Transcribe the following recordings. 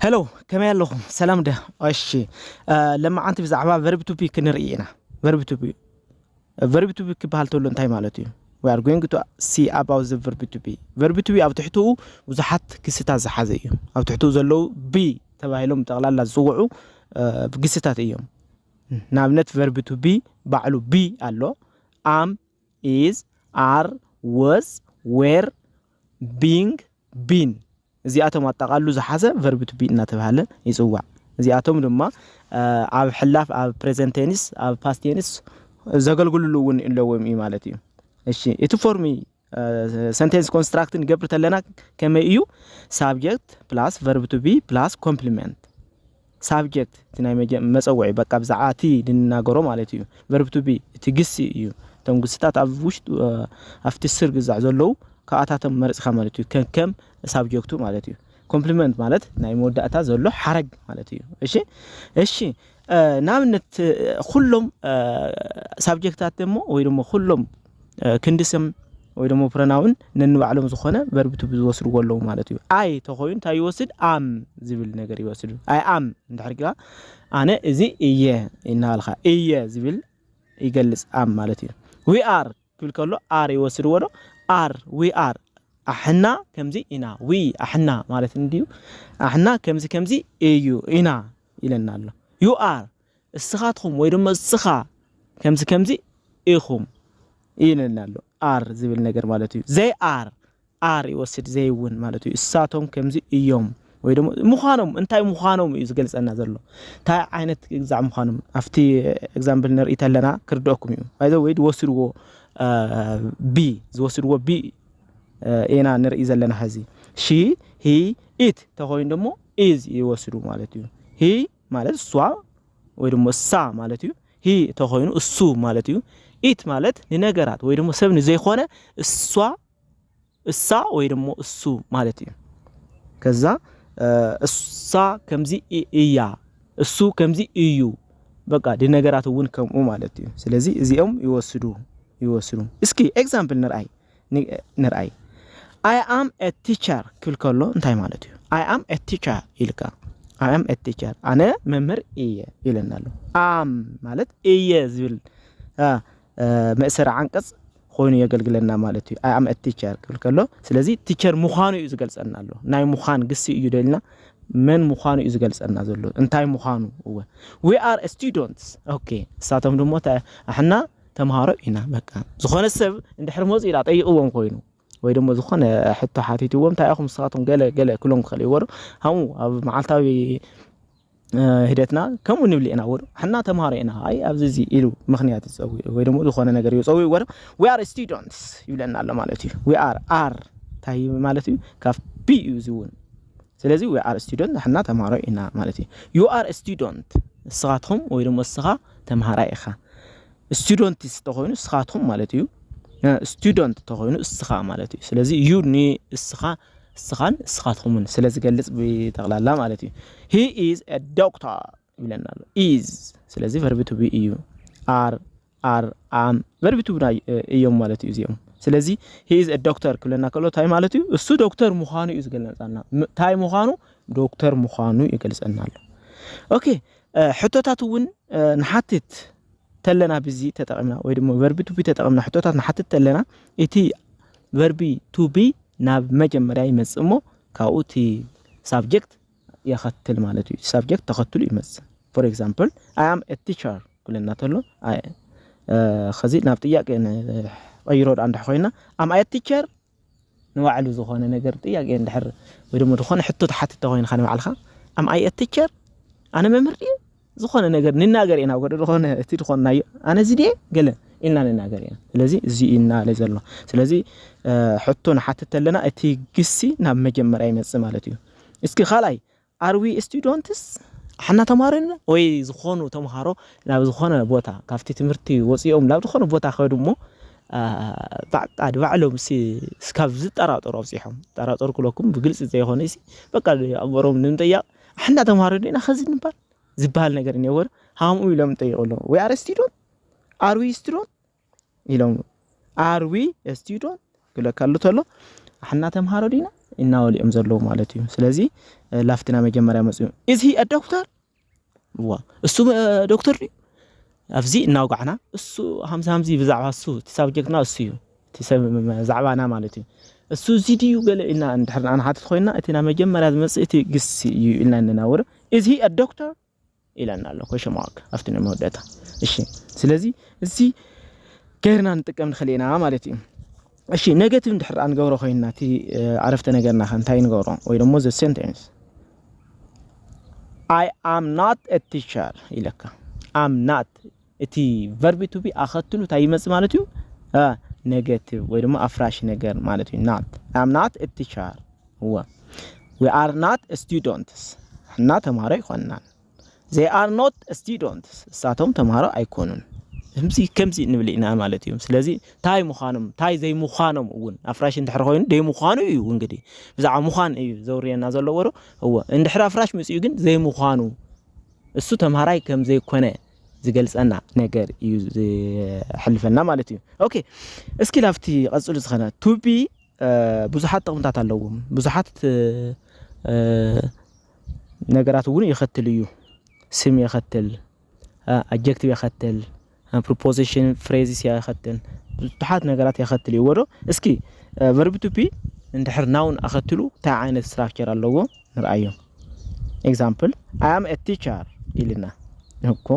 ሄሎ ከመይ ኣለኹም ሰላም ደ እሺ ለማዓንቲ ብዛዕባ ቨርብ ቱፒ ክንርኢ ኢና ቨርብ ቱፒ ቨርብ ቱፒ ክበሃል ተሎ እንታይ ማለት እዩ we are going to see about the verb to be verb to be ኣብ ትሕትኡ ብዙሓት ክስታት ዝሓዘ እዩ ኣብ ትሕትኡ ዘለዉ ቢ ተባሂሎም ጠቕላላ ዝፅውዑ ግስታት እዮም ንኣብነት ቨርብ ቱ ቢ ባዕሉ ቢ ኣሎ ኣም ኢዝ ኣር ወዝ ዌር ቢንግ ቢን እዚኣቶም ኣጠቓሉ ዝሓዘ ቨርብ ቱ ቢ እናተብሃለ ይፅዋዕ። እዚኣቶም ድማ ኣብ ሕላፍ፣ ኣብ ፕሬዘንት ቴንስ፣ ኣብ ፓስት ቴንስ ዘገልግሉሉ እውን ኣለዎም እዩ ማለት እዩ። እሺ እቲ ፎርሚ ሰንቴንስ ኮንስትራክት ንገብር ተለና ከመይ እዩ? ሳብጀክት ፕላስ ቨርብ ቱ ቢ ፕላስ ኮምፕሊመንት Subject፣ እቲ ናይ መጸውዒ፣ በቃ ብዛዕባ እቲ ንናገሮ ማለት እዩ። Verb to be፣ እቲ ግሲ እዩ። እቶም ግስታት ኣብ ውሽጢ፣ ኣብቲ ስር ግዛዕ ዘለዉ ካብኣታቶም መሪጽካ ማለት እዩ፣ ከከም ሳብጀክቱ ማለት እዩ። Complement ማለት ናይ መወዳእታ ዘሎ ሓረግ ማለት እዩ። እሺ እሺ ንኣብነት ኩሎም ሳብጀክታት ደሞ ወይ ደሞ ኩሎም ክንዲ ስም ወይ ደሞ ፕረናውን ነንባዕሎም ዝኾነ ቨርብ ቱ ዝወስድዎ ኣለዉ ማለት እዩ ኣይ ተኮይኑ እንታይ ይወስድ ኣም ዝብል ነገር ይወስድ ኣይ ኣም እንድሕር ግራ ኣነ እዚ እየ እናበልካ እየ ዝብል ይገልጽ ኣም ማለት እዩ ዊ ኣር ክብል ከሎ ኣር ይወስድዎ ዶ ኣር ዊ ኣር ኣሕና ከምዚ ኢና ዊ ኣሕና ማለት እንድዩ ኣሕና ከምዚ ከምዚ እዩ ኢና ኢለና ኣሎ ዩ ኣር እስኻትኹም ወይ ድማ እስኻ ከምዚ ከምዚ ኢኹም ይነን ኣሎ ኣር ዝብል ነገር ማለት እዩ ዘይ ኣር ኣር ይወስድ ዘይ እውን ማለት እዩ እሳቶም ከምዚ እዮም ወይ ደግሞ ምዃኖም እንታይ ምዃኖም እዩ ዝገልጸና ዘሎ እንታይ ዓይነት ግዛዕ ምዃኖም ኣብቲ ኤግዛምፕል ንርኢ ተለና ክርድአኩም እዩ ይዘ ወይ ዝወስድዎ ቢ ዝወስድዎ ቢ ኢና ንርኢ ዘለና ሕዚ ሺ ሂ ኢት ተኮይኑ ደሞ ኢዝ ይወስዱ ማለት እዩ ሂ ማለት እሷ ወይ ድሞ እሳ ማለት እዩ። ሂ ተኾይኑ እሱ ማለት እዩ። ኢት ማለት ንነገራት ወይ ድሞ ሰብ ንዘይኮነ እሷ እሳ ወይ ድሞ እሱ ማለት እዩ። ከዛ እሳ ከምዚ እያ፣ እሱ ከምዚ እዩ። በቃ ንነገራት እውን ከምኡ ማለት እዩ። ስለዚ እዚኦም ይወስዱ ይወስዱ። እስኪ ኤግዛምፕል ንርኣይ። ንርኣይ ኣይ ኣም ኤ ቲቸር ክብል ከሎ እንታይ ማለት እዩ? ኣይ ኣም ኤ ቲቸር ኢልካ ኣይ ኣም ኤ ቲቸር ኣነ መምህር እየ ኢለና ኣሎ። ኣም ማለት እየ ዝብል መእሰሪ ዓንቀጽ ኮይኑ የገልግለና ማለት እዩ። ኣይ ኣም ኤ ቲቸር ክብል ከሎ ስለዚ ቲቸር ምዃኑ እዩ ዝገልጸና ኣሎ። ናይ ምዃን ግሲ እዩ ደልና መን ምዃኑ እዩ ዝገልጸና ዘሎ እንታይ ምዃኑ እወ ዊ ኣር ስቱደንትስ ኦኬ። እሳቶም ድማ ኣሕና ተምሃሮ ኢና በቃ ዝኾነ ሰብ እንድሕር መጹ ኢላ ጠይቕዎም ኮይኑ ወይ ደሞ ዝኾነ ሕቶ ሓቲትዎም እንታይ ኢኹም ንስኻትኩም ገለ ገለ ክብሎም ክኽእል እዩዎ ዶ ከምኡ ኣብ መዓልታዊ ሂደትና ከምኡ ንብል ኢና ወዶ ሕና ተምሃሮ ኢና ኣይ ኣብዚ እዚ ኢሉ ምክንያት ይፀውዕ ወይ ደሞ ዝኾነ ነገር ይፀውዕ ወዶ ዊ ኣር ስቱደንትስ ይብለና ኣሎ ማለት እዩ ዊ ኣር ኣር እንታይ ማለት እዩ ካብ ቢ እዩ እዚ እውን ስለዚ we are student ንሕና ተምሃሮ ኢና ማለት እዩ። you are a student ንስኻትኹም ወይ ደሞ ንስኻ ተምሃራይ ኢኻ። students እንተኾይኑ ንስኻትኹም ማለት እዩ። student እንተኾይኑ ንስኻ ማለት እዩ። ስለዚ you ንስኻ ንስኻን ንስኻትኩምን ስለ ዝገልጽ ብጠቕላላ ማለት እዩ። he is a doctor ይብለና ኣሎ ኢዝ ስለዚ ቨርቢ ቱ ቢ እዩ ኣር ኣር ኣም ቨርቢ ቱ እዮም ማለት እዩ እዚኦም ስለዚ ሂዝ ዶክተር ክብለና ከሎ እንታይ ማለት እዩ እሱ ዶክተር ምዃኑ እዩ ዝገልጸና እንታይ ምዃኑ ዶክተር ምዃኑ ይገልጸና ኣሎ ኦኬ ሕቶታት እውን ንሓትት ተለና ብዚ ተጠቒምና ወይ ድማ ቨርቢ ቱቢ ተጠቒምና ሕቶታት ንሓትት ተለና እቲ ቨርቢ ቱቢ ናብ መጀመርያ ይመጽእ እሞ ካብኡ እቲ ሳብጀክት የኸትል ማለት እዩ። ሳብጀክት ተኸትሉ ይመጽእ። ፎር ኤግዛምፕል ኣይ ኣም ኤ ቲቸር ክብለና ተሎ ከዚ ናብ ጥያቄ ቀይሮ ዳ እንድሕ ኮይና ኣም ኣይ ቲቸር ንባዕሉ ዝኾነ ነገር ጥያቄ እንድሕር ወይ ድማ ዝኾነ ሕቶ ተሓትተ ኮይንካ ንባዕልካ ኣም ኣይ ቲቸር ኣነ መምህር ድየ ዝኾነ ነገር ንናገር ኢና ወደ ዝኾነ እቲ ዝኾንናዮ ኣነ እዚ ድየ ገለ ኢልና ንናገር ኢና ስለዚ እዚ ኢና ለ ዘሎ ስለዚ ሕቶ ንሓትት ኣለና እቲ ግሲ ናብ መጀመርያ ይመጽእ ማለት እዩ እስኪ ካልኣይ ኣርዊ ስቱደንትስ ሓና ተማሃሮ ኢና ወይ ዝኾኑ ተምሃሮ ናብ ዝኾነ ቦታ ካብቲ ትምህርቲ ወፂኦም ናብ ዝኾነ ቦታ ከዱ እሞ ባዕጣ ባዕሎም ስካብ ዝጠራጠሩ ኣብፂሖም ጠራጠሩ ክለኩም ብግልፂ ዘይኮነ በቃ ኣእምሮም ንምጠያቕ ኣሕና ተምሃሮ ዲና ከዚ ንባል ዝበሃል ነገር እኒኦ ወር ሃምኡ ኢሎም ጠይቁ ኣለዉ ወይ ኣረ ስቲዶን ኣርዊ ስቲዶን ኢሎም ኣርዊ ስቲዶን ክብለካ ኣሎ ተሎ ኣሕና ተምሃሮ ዲና እናበሉ እዮም ዘለዉ ማለት እዩ ስለዚ ላፍትና መጀመርያ መፅኡ እዚ ዶክተር ዋ እሱ ዶክተር ድዩ ኣብዚ እናውጋዕና እሱ ሃምዚ ሃምዚ ብዛዕባ እሱ እቲ ሳብጀክትና እሱ እዩ እቲ ሰብ ዛዕባና ማለት እዩ እሱ እዚ ድዩ ገለ ኢልና እንድሕር ንሓትት ኮይና እቲ ናይ መጀመርያ ዝመጽእ እቲ ግሲ እዩ ኢልና እንናውር ኢዝ ሂ አ ዶክተር ኢለና ኣሎ ኮሽን ማርክ ኣብቲ ናይ መወዳእታ እሺ ስለዚ እዚ ገይርና ንጥቀም ንኽእል ኢና ማለት እዩ እሺ ኔጌቲቭ እንድሕር ንገብሮ ኮይና እቲ ዓረፍተ ነገርና ከ እንታይ ንገብሮ ወይ ደሞ ዘ ሴንቴንስ ኣይ ኣም ናት ቲቸር ኢለካ ኣም ናት እቲ ቨርቢ ቱ ቢ ኣኸትሉ ታይ ይመፅእ ማለት እዩ? ነገቲቭ ወይ ድማ ኣፍራሽ ነገር ማለት እዩ። ናት ኣይ ኣም ናት እ ቲቸር እወ ዊ ኣር ናት እ ስቱደንትስ ንሕና ተምሃሮ ኣይኮንናን። ዘይ ኣር ኖት ስቱደንትስ ንሳቶም ተምሃሮ ኣይኮኑን። ከምዚ ከምዚ ንብል ኢና ማለት እዩ። ስለዚ እንታይ ምዃኖም እንታይ ዘይምዃኖም እውን ኣፍራሽ እንድሕር ኮይኑ ዘይምዃኑ እዩ እንግዲህ ብዛዕባ ምዃን እዩ ዘውርየና ዘሎ ወሩ እወ እንድሕር ኣፍራሽ መፂኡ ግን ዘይምዃኑ እሱ ተምሃራይ ከም ዘይኮነ ዝገልጸና ነገር እዩ ዝሕልፈልና ማለት እዩ ኦኬ እስኪ ላብቲ ቀጽሉ ዝኸነ ቱቢ ብዙሓት ጥቕምታት ኣለዎም ብዙሓት ነገራት እውን የኸትል እዩ ስም የኸትል ኣጀክቲቭ የኸትል ፕሮፖዚሽን ፍሬዝስ የኸትል ብዙሓት ነገራት የኸትል እዩዎ ዶ እስኪ ቨርቢ ቱቢ እንድሕር ናውን ኣኸትሉ እንታይ ዓይነት ስትራክቸር ኣለዎ ንርኣዮ። ኤግዛምፕል ኣይ ኣም ኤ ቲቸር ኢልና እኮ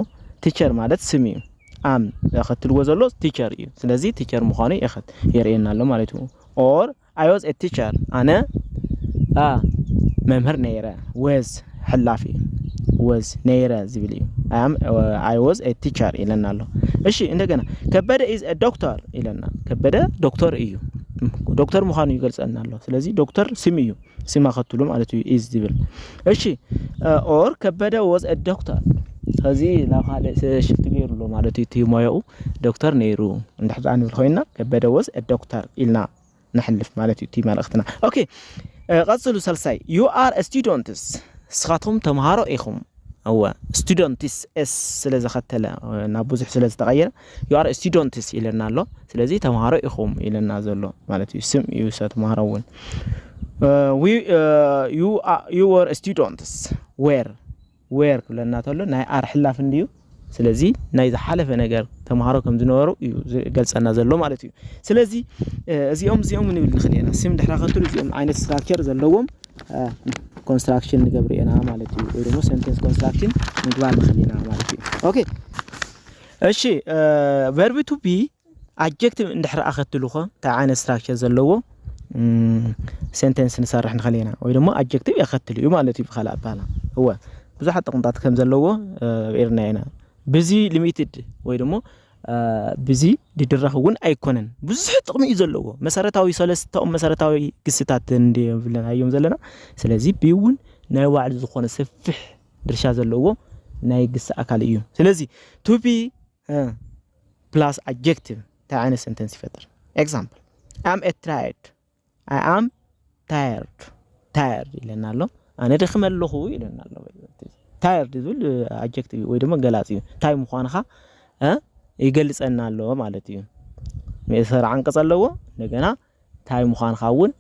ቲቸር ማለት ስም እዩ ኣም የኸትልዎ ዘሎ ቲቸር እዩ ስለዚ ቲቸር ምዃኑ የኸት የርእየና ኣሎ ማለት እዩ ኦር ኣይ ወዝ ኤ ቲቸር ኣነ አ መምህር ነይረ ወዝ ሕላፍ እዩ ወዝ ነይረ ዝብል እዩ ኣም ኣይ ወዝ ኤ ቲቸር ኢለና ኣሎ እሺ እንደገና ከበደ ኢዝ ኤ ዶክተር ኢለና ከበደ ዶክተር እዩ ዶክተር ምዃኑ ይገልጸልና ኣሎ ስለዚ ዶክተር ስም እዩ ሲማ ከትሉ ማለት እዩ ኢዝ ዝብል እሺ ኦር ከበደ ወዝ ዶክተር ከዚ ናብ ካልእ ሽፍት ገይሩ ኣሎ ማለት እዩ እቲ ሞያኡ ዶክተር ነይሩ እንድሕር ደኣ ንብል ኮይና ከበደ ወዝ ዶክተር ኢልና ነሕልፍ ማለት እዩ እቲ መልእኽትና ኦኬ ቀጽሉ ሰልሳይ ዩ ኣር ስቱደንትስ ንስኻትኩም ተምሃሮ ኢኹም እወ ስቱደንትስ ኤስ ስለ ዘኸተለ ናብ ብዙሕ ስለ ዝተቐየረ ዩ ኣር ስቱደንትስ ኢለና ኣሎ ስለዚ ተምሃሮ ኢኹም ኢለና ዘሎ ማለት እዩ ስም እዩ ሰ ተምሃሮ እውን ዩ ወር ስቱደንትስ ዌር ዌር ክብለና ተሎ ናይ ኣር ሕላፍ እንድዩ ስለዚ ናይ ዝሓለፈ ነገር ተምሃሮ ከም ዝነበሩ እዩ ዝገልፀና ዘሎ ማለት እዩ ስለዚ እዚኦም እዚኦም ንብል ንኽእል ኢና ስም ድሕሪ ከትሉ እዚኦም ዓይነት ስትራክቸር ዘለዎም ኮንስትራክሽን ንገብር ኢና ማለት እዩ ወይ ድማ ሰንተንስ ኮንስትራክሽን ምግባር ንኽእል ኢና ማለት እዩ ኦኬ እሺ ቨርቢ ቱ ቢ ኣጀክቲቭ እንድሕር ኣኸትልኮ እንታይ ዓይነት ስትራክቸር ዘለዎ ሴንቴንስ ንሰርሕ ንኽእል ኢና ወይ ድማ ኣጀክቲቭ የኸትል እዩ ማለት እዩ ብካልእ ኣባሃላ እወ ብዙሓት ጥቕምታት ከም ዘለዎ ኤርና ኢና ብዚ ሊሚትድ ወይ ድማ ብዚ ድድራኽ እውን ኣይኮነን ብዙሕ ጥቕሚ እዩ ዘለዎ መሰረታዊ ሰለስተኦም መሰረታዊ ግስታት እንብለናዮም ዘለና ስለዚ ብእውን ናይ ባዕሉ ዝኾነ ሰፊሕ ድርሻ ዘለዎ ናይ ግሲ ኣካል እዩ። ስለዚ to be plus adjective እንታይ ዓይነት ሰንተንስ ይፈጥር? ኤግዛምፕል ኣም ኤት ትራየድ ኣይ ኣም ታየርድ ታየርድ ኢለና ኣሎ ኣነ ደክመ ኣለኹ ኢለና ኣሎ ታየርድ ዝብል ኣጀክቲቭ ወይ ድማ ገላፂ እዩ እንታይ ምዃንኻ ይገልፀና ኣሎ ማለት እዩ መእሰሪ ዓንቀፅ ኣለዎ እንደገና እንታይ ምዃንኻ እውን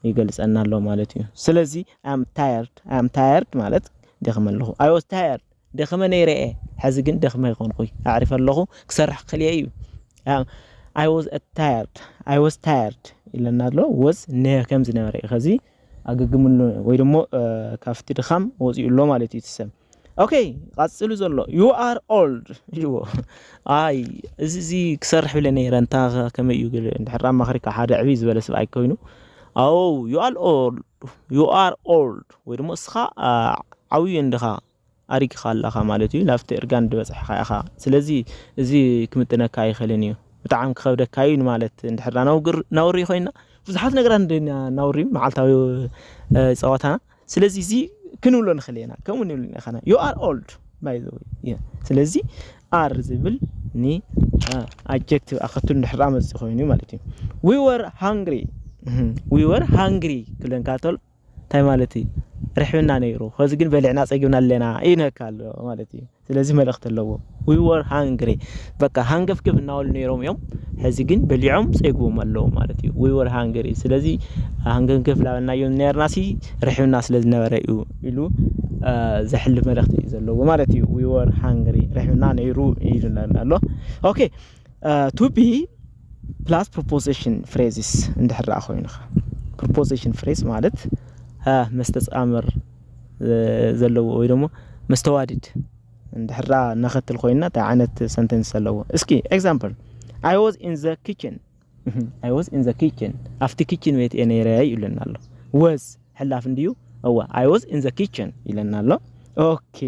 ይገልጸና ኣሎ ማለት እዩ። ስለዚ ኣይ ኣም ታየርድ፣ ኣይ ኣም ታየርድ ማለት ደኺመ ኣለኹ፣ ኣይ ዋዝ ታየርድ ደኺመ ነይረ እየ፣ ሕዚ ግን ደኺመ ኣይኮንኩይ ኣዕሪፈ ኣለኹ ክሰርሕ ክኽእል እየ እዩ። ኣይ ዋዝ ታየርድ፣ ኣይ ዋዝ ታየርድ ኢለና ኣሎ። ወዝ ከምዝነበረ እዩ። ከዚ ኣገግም ኣሎ ወይ ደሞ ካብቲ ድኻም ወጺኡ ኣሎ ማለት እዩ እቲ ሰብ። ኦኬ ቃጽሉ ዘሎ ዩ ኣር ኦልድ እዎ ኣይ እዚ እዚ ክሰርሕ ብለ ነይረ እንታ ከመይ እዩ ግን ድሕር ኣማኽሪካ ሓደ ዕቢ ዝበለ ስብኣይ ኮይኑ ኣው ዩ ኣር ኦልድ ዩ ኣር ኦልድ ወይ ድማ እስኻ ዓብዩ እንድኻ ኣሪግኻ ኣለኻ ማለት እዩ ናብቲ እርጋን ድበፅሕኻ ኢኻ ስለዚ እዚ ክምጥነካ ኣይኽእልን እዩ ብጣዕሚ ክኸብደካ እዩ ንማለት እንድሕር ናውሪ ኮይና ብዙሓት ነገራት ናውሪ መዓልታዊ ፀዋታና ስለዚ እዚ ክንብሎ ንኽእል ኢና ከምኡ ንብል ኢና ኸና ዩ ኣር ኦልድ ባይ ዘ ወይ ስለዚ ኣር ዝብል ን ኣጀክቲቭ ኣኸትሉ ንድሕራ መፅእ ኮይኑ ማለት እዩ ዊ ወር ሃንግሪ ዊ ወር ሃንግሪ ክብለን ካቶል እንታይ ማለት እዩ ርሕብና ነይሩ ከዚ ግን በሊዕና ፀጊብና ኣለና ይነካ ኣሎ ማለት እዩ ስለዚ መልእኽቲ ኣለዎ። We were hungry በቃ ሃንገፍገፍ እናበሉ ነይሮም እዮም ሕዚ ግን በሊዖም ጸይግዎም ኣለዉ ማለት እዩ። We were hungry ስለዚ ሃንገፍገፍ ላበልናዮም ነርናሲ ርሕብና ስለ ዝነበረ እዩ ኢሉ ዘሕልፍ መልእኽቲ እዩ ዘለዎ ማለት እዩ። We were hungry ርሕብና ነይሩ ኢሉና ኣሎ። ኦኬ ቱ ቢ ፕላስ ፕሮፖዚሽን ፍሬዝስ እንድሕር ደኣ ኮይኑኻ ፕሮፖዚሽን ፍሬዝ ማለት መስተጻምር ዘለዎ ወይ ደሞ መስተዋድድ እንድሕር ደኣ ነኸትል ኮይና እንታይ ዓይነት ሰንተንስ ኣለዎ እስኪ ኤግዛምፕል ኣይ ዋዝ ኢን ዘ ኪችን ኣይ ዋዝ ኢን ዘ ኪችን ኣብቲ ኪችን ቤት እየ ነይረ ይብለና ኣሎ ወዝ ሕላፍ እንድዩ እዋ ኣይ ዋዝ ኢን ዘ ኪችን ይለና ኣሎ ኦኬ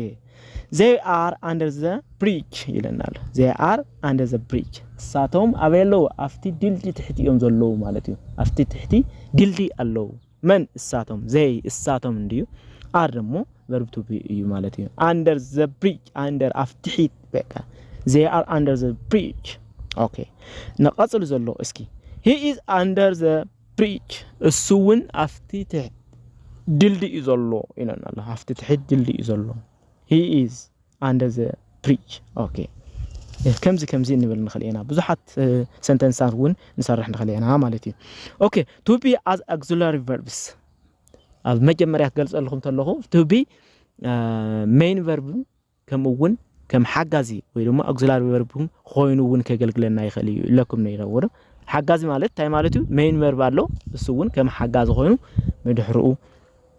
ዘይ ኣር ኣንደር ዘ ብሪጅ ይለና ኣሎ ዘይ ኣር ኣንደር ዘ ብሪጅ እሳቶም ኣበይ ኣለዉ ኣብቲ ድልዲ ትሕቲ እዮም ዘለዉ ማለት እዩ ኣብቲ ትሕቲ ድልዲ ኣለዉ መን እሳቶም? ዘይ እሳቶም እንድዩ። ኣር ደሞ ቨርብ ቱ ቢ እዩ ማለት እዩ። ኣንደር ዘ ብሪጅ ኣንደር ኣፍ ትሒት በቃ ዘይ ኣር ኣንደር ዘ ብሪጅ። ኦኬ ንቐጽሉ ዘሎ እስኪ ሂ ኢዝ ኣንደር ዘ ብሪጅ እሱ እውን ኣፍቲ ትሕት ድልድይ እዩ ዘሎ ኢለና ኣሎ። ኣፍቲ ትሕት ድልድይ እዩ ዘሎ ሂ ኢዝ ኣንደር ዘ ብሪጅ ኦኬ ከምዚ ከምዚ እንብል ንኽእል ኢና ብዙሓት ሰንተንሳት እውን ንሰርሕ ንኽእል ኢና ማለት እዩ ኦኬ ቱ ቢ ኣዝ ኣግዚላሪ ቨርብስ ኣብ መጀመርያ ክገልጸልኩም ተለኹ ቱ ቢ ሜይን ቨርብ ከምኡ እውን ከም ሓጋዚ ወይ ድማ ኣግዚላሪ ቨርብ ኮይኑ እውን ከገልግለና ይኽእል እዩ ኢለኩም ነይረ ወዶ ሓጋዚ ማለት እንታይ ማለት እዩ ሜይን ቨርብ ኣሎ እሱ እውን ከም ሓጋዚ ኮይኑ ንድሕርኡ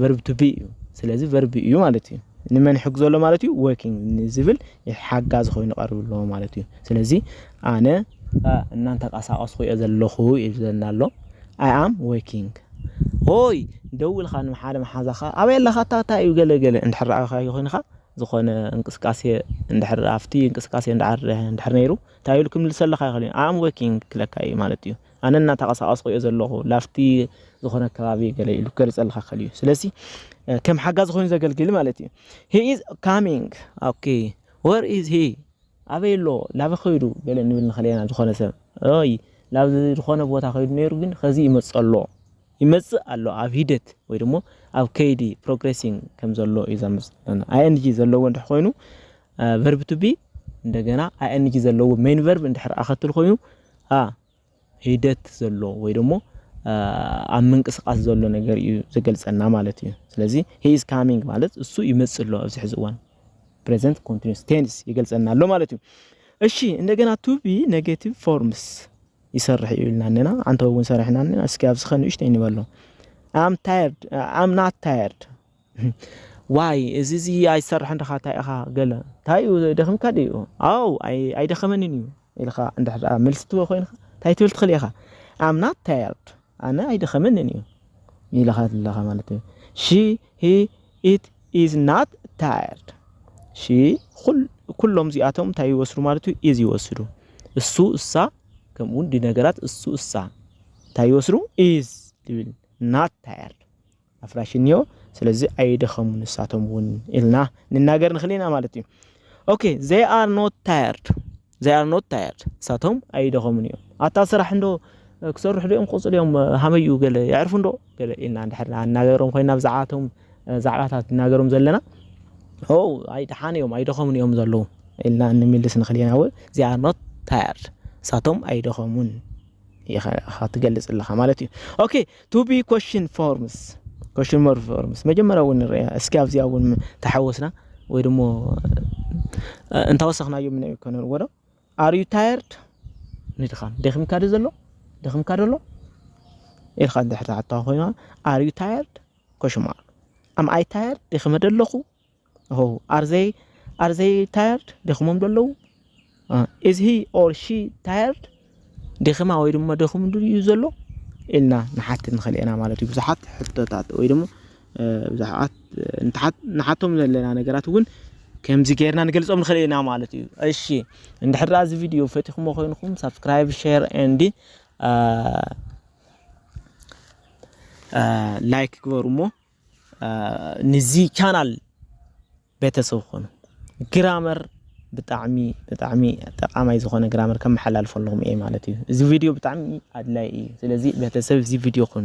ቨርብ ቱ ቢ እዩ ስለዚ ቨርብ እዩ ማለት እዩ ንመን ሕግ ዘሎ ማለት እዩ ወርኪንግ ንዝብል ሓጋዝ ኮይኑ ቀርብ ኣለዎ ማለት እዩ ስለዚ ኣነ እናንተንቀሳቀስኩ እየ ዘለኹ ይብለና ኣሎ ኣይ ኣም ወርኪንግ ሆይ ደውልካ ንሓደ መሓዛኻ ኣበይ ኣለኻ ኣታ ታይ እዩ ገለ ገለ እንድሕር ራኣኻዮ ኮይንኻ ዝኾነ እንቅስቃሴ እንድሕር ኣፍቲ እንቅስቃሴ እንድሕር እንድሕር ነይሩ እንታይ ኢሉ ክምልሰልካ ይኽእል እዩ ኣይ ኣም ወርኪንግ ክብለካ እዩ ማለት እዩ ኣነ እናተቐሳቐስኹ እየ ዘለኹ ላፍቲ ዝኾነ ከባቢ ገለ ኢሉ ክገልጸልካ ከል እዩ ስለዚ ከም ሓጋዚ ኮይኑ ዘገልግል ማለት እዩ ሂ ኢዝ ካሚንግ ኦኬ ወር ኢዝ ሂ ኣበይ ኣሎ ላበ ከይዱ ገለ ንብል ንኸለና ዝኾነ ሰብ ይ ናብ ዝኾነ ቦታ ከይዱ ነይሩ ግን ከዚ ይመጽ ኣሎ ይመጽእ ኣሎ ኣብ ሂደት ወይ ደሞ ኣብ ከይዲ ፕሮግሬሲንግ ከም ዘሎ እዩ ዘምጽእ ለና ing ዘለዎ እንድሕ ኮይኑ ቨርብ ቱ ቢ እንደገና ing ዘለዎ ሜን ቨርብ እንድሕር ኣኸትል ኮይኑ ኣ ሂደት ዘሎ ወይ ደሞ ኣብ ምንቅስቃስ ዘሎ ነገር እዩ ዘገልጸና ማለት እዩ ስለዚ ሂ ኢዝ ካሚንግ ማለት እሱ ይመጽእ ኣሎ ኣብዚ ሕዚ እዋን ፕሬዘንት ኮንቲኒስ ቴንስ ይገልጸና ኣሎ ማለት እዩ እሺ እንደገና ቱ ቢ ኔጌቲቭ ፎርምስ ይሰርሕ እዩ ኢልና እኔና ዓንተቦ እውን ሰሪሕና እኔና እስኪ ኣብዚ ከ ንእሽተይ ንበሎ ኣም ታየርድ ኣም ናት ታየርድ ዋይ እዚ እዚ ኣይሰርሕን ድኻ እንታይ ኢኻ ገለ እንታይ እዩ ደኺምካ ድዩ ኣው ኣይደኸመንን እዩ ኢልካ እንድሕር መልሲ ትህቦ ኮይንካ እንታይ ትብል ትኽእል ኢኻ ኣም ናት ታየርድ ኣነ ኣይደኸመንን እዩ ኢልኻ ኣለኻ ማለት እዩ ሺ ሂ ኢት ኢዝ ናት ታየርድ ሺ ኩሎም እዚኣቶም እንታይ ይወስዱ ማለት እዩ ኢዝ ይወስዱ እሱ እሳ ከምኡውን ዲ ነገራት እሱ እሳ እንታይ ይወስዱ ኢዝ ዝብል ናት ታየርድ ኣፍራሽ እንዮ ስለዚ ኣይደኸሙን ንሳቶም እውን ኢልና ንናገር ንኽእል ኢና ማለት እዩ ኦኬ ዘይ ኣር ኖት ታየርድ ዘይ ኣር ኖት ታየርድ ንሳቶም ኣይደኸሙን እዮም ኣታ ስራሕ እንዶ ክሰርሑ ዶኦም ክቕፅሉ እዮም ሃመይ እዩ ገለ የዕርፉ እንዶ ገለ ኢልና እንድሕር ኣናገሮም ኮይና ብዛዕባቶም ዛዕባታት እናገሮም ዘለና ኦ ኣይ ደሓን እዮም ኣይደኸሙን እዮም ዘለዉ ኢልና ንምልስ ንኽእል ኢና እውን ዚ ኣር ኖት ታየርድ ንሳቶም ኣይደኸሙን ኢኻ ትገልፅ ኣለኻ ማለት እዩ ኦኬ to be question forms question more forms መጀመሪያ እውን ንርያ እስኪ ኣብዚኣ እውን ተሓወስና ወይ ድሞ እንታወሰኽናዮ ምነ ከነርዎ ዶ ኣር ዩ ታየርድ ንድኻም ደኺምካ ዶ ዘሎ ደኺምካ ዶ ኣሎ ኢልካ እንድሕር ትሓታ ኮይና ኣር ዩ ታየርድ ኮሽማ ኣም ኣይ ታየርድ ደኺመ ዶ ኣለኹ ኦው ኣር ዘይ ኣር ዘይ ታየርድ ደክሞም ዶ ኣለዉ ኢዝ ሂ ኦር ሺ ታየርድ ደኺማ ወይ ድማ ደኹም ድዩ ዘሎ ኢልና ንሓትት ንኽእል ኢና ማለት እዩ ብዙሓት ሕቶታት ወይ ድማ ብዙሓት ንሓቶም ዘለና ነገራት እውን ከምዚ ጌርና ንገልጾም ንኽእል ኢና ማለት እዩ እሺ እንድሕር እዚ ቪድዮ ፈቲኹሞ ኮይንኩም ሳብስክራይብ ሼር ኤንድ ላይክ ግበሩ እሞ ንዚ ቻናል ቤተሰብ ኾኑ ግራመር ብጣዕሚ ብጣዕሚ ጠቃማይ ዝኾነ ግራመር ከመሓላልፈልኹም እየ ማለት እዩ። እዚ ቪድዮ ብጣዕሚ ኣድላይ እዩ። ስለዚ ቤተሰብ እዚ ቪድዮ ኾኑ